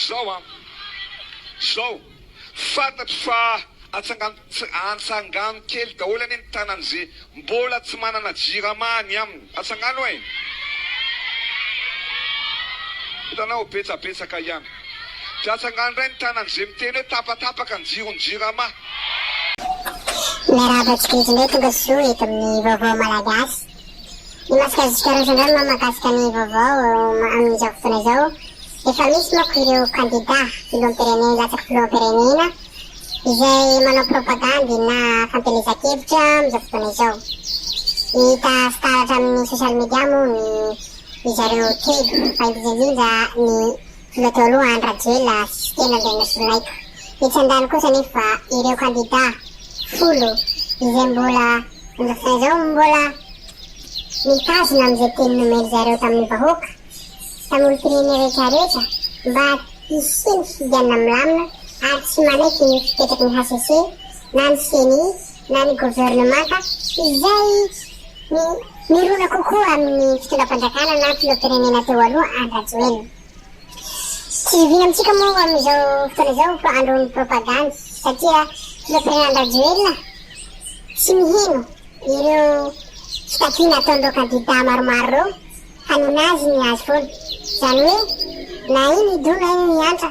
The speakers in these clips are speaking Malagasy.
Zao an! Zao! Fantatro fa atsangano-atsangano kely daholo anie ny tanan'ze mbola tsy manana jirama any aminy. Atsangano e! Hitanao? Betsabetsaka ihany. Dia atsangano indray ny tanan'ze miteny hoe tapatapaka ny jiron'ny jirama. Miarahaba tsikelikely tonga soa eto amin'ny Vaovao Malagasy. Ny masikazika Rosendahl moa mahakasika ny vaovao amin'izao fotoana izao, efa misy manko ireo kandida filoham-pirenena latsaky filoham-pirenena izay manao propagandy na fampielezan-kevitra amin'izao fotoana izao. Hita sy taratra amin'ny social media moa ny ry zareo telo fa indrindra indrindra ny Mbola teo aloha any Rajoelina sy tena indray nosolonaiko. Etsy an-dany kosa anefa ireo kandida folo izay mbola manjaka saina izao mbola mitazona amin'izay teny nomen-dry zareo tamin'ny vahoaka, tamin'ny olom-pirenena rehetra rehetra mba hisian' ny fifidianana milamina ary tsy manaiky ny fipetraky ny hcc na ny ceni na ny governemanta izay Ny mirona kokoa amin'ny fitondram-panjakana na filoham-pirenena teo aloha Andry Rajoelina. Tsy zoviana amintsika moa amin'izao fotoana izao fa andron'ny propagandy satria filoham-pirenena Andry Rajoelina tsy miheno ireo fitakiana ataon'ireo kandida maromaro ireo fa ninazy ny azy foana. Izany hoe na iny hidona iny ny antra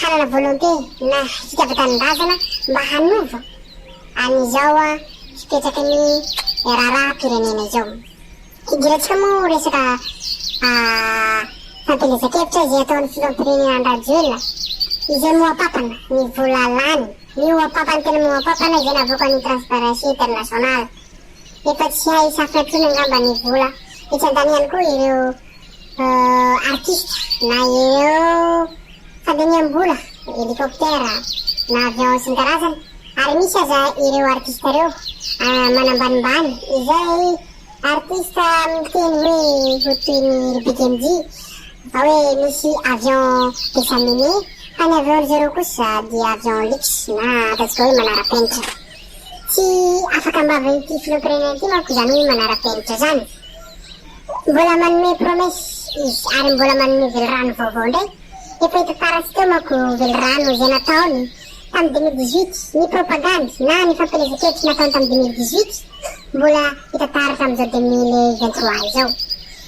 hanana volonté na fitiavan-tanindrazana mba hanova an'izao fipetraky ny raharaham-pirenena izao. Hidirantsika moa ho resaka fampielezan-kevitra izay ataon'ny filoham-pirenena Andry Rajoelina izay mohampapana ny vola lany. Mihoa-papana tena mihoa-papana izay navoakan'ny Transparency International. Efa tsy hay safina intsony angamba ny vola. Etsy an-tany ihany koa ireo artista na ireo fandiniham-bola, helicoptère na avion sy ny karazany ary misy aza ireo artista ireo manambanimbany izay artista miteny hoe ho toy ny ry Big MJ fa hoe misy avion Bexamine fa ny avion-dry zareo kosa dia avion luxe na ataontsika hoe manara-penitra. Tsy afaka ambava ity filoham-pirenena ity manko izany hoe manara-penitra izany. Mbola manome promesse izy ary mbola manome velirano vaovao indray. Efa hita farantsy teo manko velirano izay nataony tamin'ny deux mille dix-huit. Ny propagandy na ny fampielezan-kevitra nataony tamin'ny deux mille dix-huit mbola hita taratra amin'izao deux mille vingt-trois izao.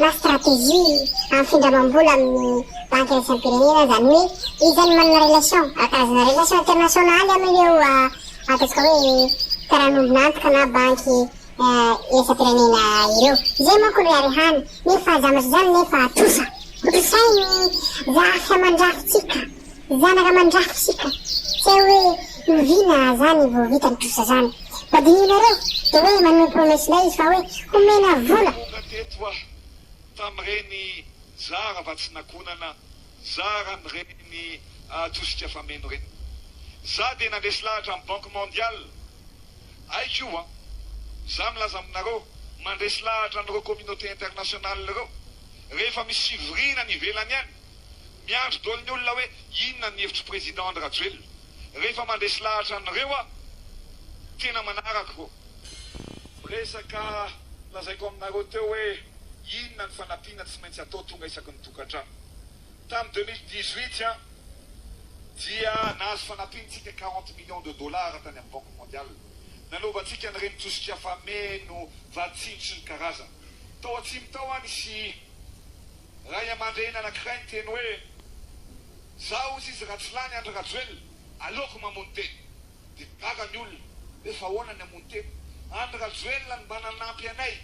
na stratégie amin'ny findramam-bola amin'ny banky iraisam-pirenena izany hoe iza no manana relation, karazana relation internationaly amin'ireo ataontsika hoe mpiara-miombon'antoka na banky iraisam-pirenena ireo. Izay manko no iarehany nefa zavatra izany nefa trosa, hotrosain'ny raha sahy mandrafitsika. Mianaka mandrafo isika, tsy hay hoe oviana zany vao vita ny trosa zany. Mba dinihinareo de hoe manome promesse indray izy fa hoe homena vola. Tonga teto aho tamin'ireny zara vatsin'akonana, zara an'ireny tosika fameno ireny. Za dia nandresy lahatra ny banque mondiale, haiko io an! Za milaza aminareo, mandresy lahatra an'ireo communauté internationale ireo, rehefa misy fivoriana any ivelany any, Miandry dolo ny olona hoe inona ny hevitr'i Président Andry Rajoelina. Rehefa mandresy lahatra an'ireo aho tena manaraka ô. Miresaka lazaiko aminareo teo hoe inona ny fanampiana tsy maintsy atao tonga isaky ny tokantrano. Tamin'ny deux mille dix-huit an dia nahazo fanampiantsika quarante millions de dollars tany amin'ny Banque Mondiale. Nanaovantsika an'ireny tosika fameno vatsy tsindrotry ny karazany. Tao atsimo tao an nisy. ray aman-dreny anankiray niteny hoe, Izaho hozy izy raha tsy lany Andry Rajoelina, aleoko mamono tena. Dia gaga ny olona, hoe fa ahoana ny hamono tena? Andry Rajoelina no mba nanampy anay,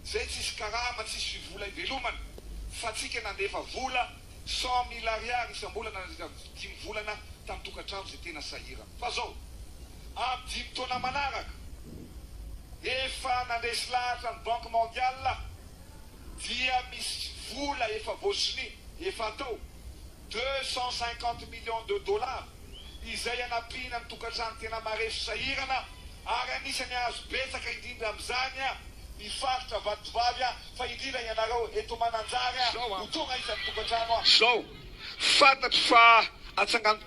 izay tsisy karama, tsisy fivola ivelomana, fa tsika nandefa vola cent mille ariary isam-bolana nandritra ny dimy volana tamin'ny tokantrano izay tena sahirana. Fa izao, amin'ny dimy taona manaraka, efa nandresy lahatra ny Banque Mondiale, dia misy vola efa voasonia, efa atao, deux cent cinquante millions de dollars, izay hanampiana ny tokantrano tena marefo sahirana, ary anisany hahazo betsaka indrindra amin'izany ny faritra Vatovavy, fa indrindra ianareo eto Mananjary ho tonga isan'ny tokantrano. Fantatro fa atsangano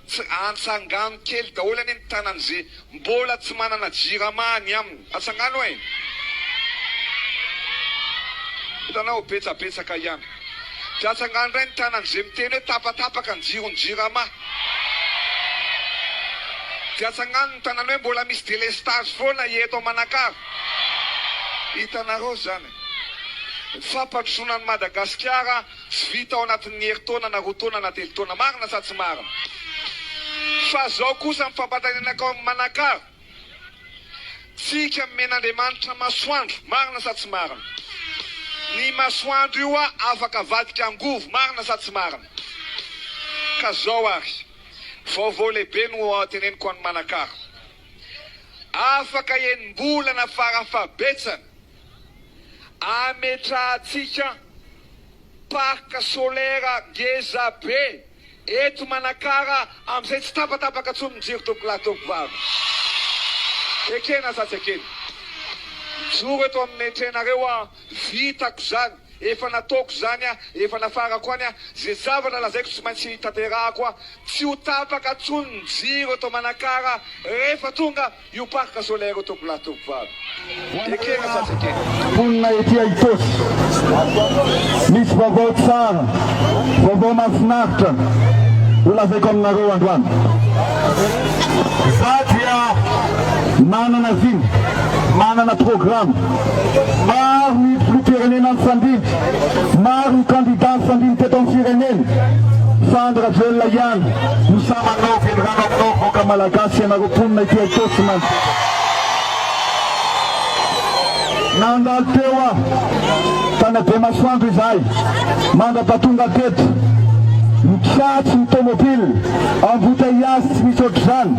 antsangano kely daholo anie ny tanany ze mbola tsy manana jirama any aminy atsangano eh! Hitanao betsabetsaka ihany de atsangano indray ny tanany ze miteny hoe tapatapaka ny jiron'ny jirama de atsangano ny tanany hoe mbola misy delestage foana eto Manakara hitanareo zany eh! Ny fampandrosoana an'i Madagasikara Tsy vita ao anatin'ny herintaona na roa taona na telo taona. Marina sa tsy marina? Fa zao kosa ny fampatanenakao amin'ny manakaro tsika nomen'Andriamanitra masoandro. Marina sa tsy marina? Ny masoandro io hoa afaka avadika angovo. Marina sa tsy marina? Ka zao ary, vaovao lehibe no ho teneniko an'ny manakaro. Afaka enim-bolana fara fahabetsany. ametrahantsika parc solaire ngeza be eto Manakara amin'izay tsy tapatapaka intsony ny jiro tompokolahy tompovavy. Ekena sa tsy ekena? Mijoro eto amin'ny tranareo aho, vitako izany, efa nataoko izany aho, efa nafarako any aho, izay zavatra lazaiko tsy maintsy tanterahako aho, tsy ho tapaka intsony ny jiro eto Manakara rehefa tonga Io parc solaire io tokony hatoky vavy ekena sady ekena. Mponina ety Aitosy, misy vaovao tsara, vaovao mahafinaritra ho lazaiko aminareo androany. Za dia manana vina, manana programa. Maro ny filoham-pirenena nifandimby, maro ny kandida nifandimby teto amin'ny firenena fa Andry Rajoelina ihany no sahy manao velirano aminao vahoaka malagasy. Tsy ianareo mponina ity Itaosy na nandalo teo aho tany Abemasoandro izahay mandrapatonga teto mitsatso ny tomobile embouteillage tsy misy ohatr'izany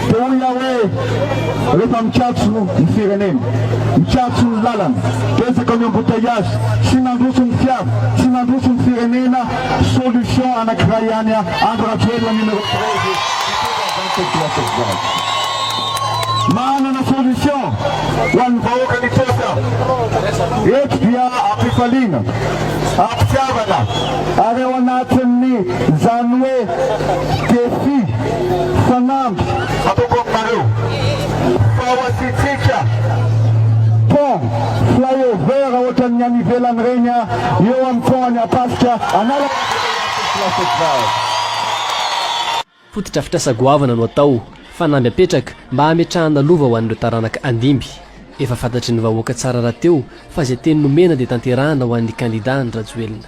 dia hoy aho hoe rehefa mikatso ny firenena mikatso ny lalana betsaka ny embouteillage tsy nandroso ny fiara tsy nandroso ny firenena solution anankiray ihany Andry Rajoelina numéro 13 Manana solution ho an'ny vahoaka nipoitra. Eto dia ampifaliana, ampitiavana ary ao anatin'ny izany hoe défi, fanamby, ataoko aminareo. Fa ho antsika, pont, flyover ohatran'ny any ivelany ireny eo amin'ny pont an'i Ampasika, Analakely. Fotodrafitrasa goavana no atao, fanamby apetraka mba hametrahana lova ho an'ireo taranaka handimby. Efa fantatry ny vahoaka tsara rahateo fa izay teny nomena dia tanterahana ho an'ny kandida Andry Rajoelina.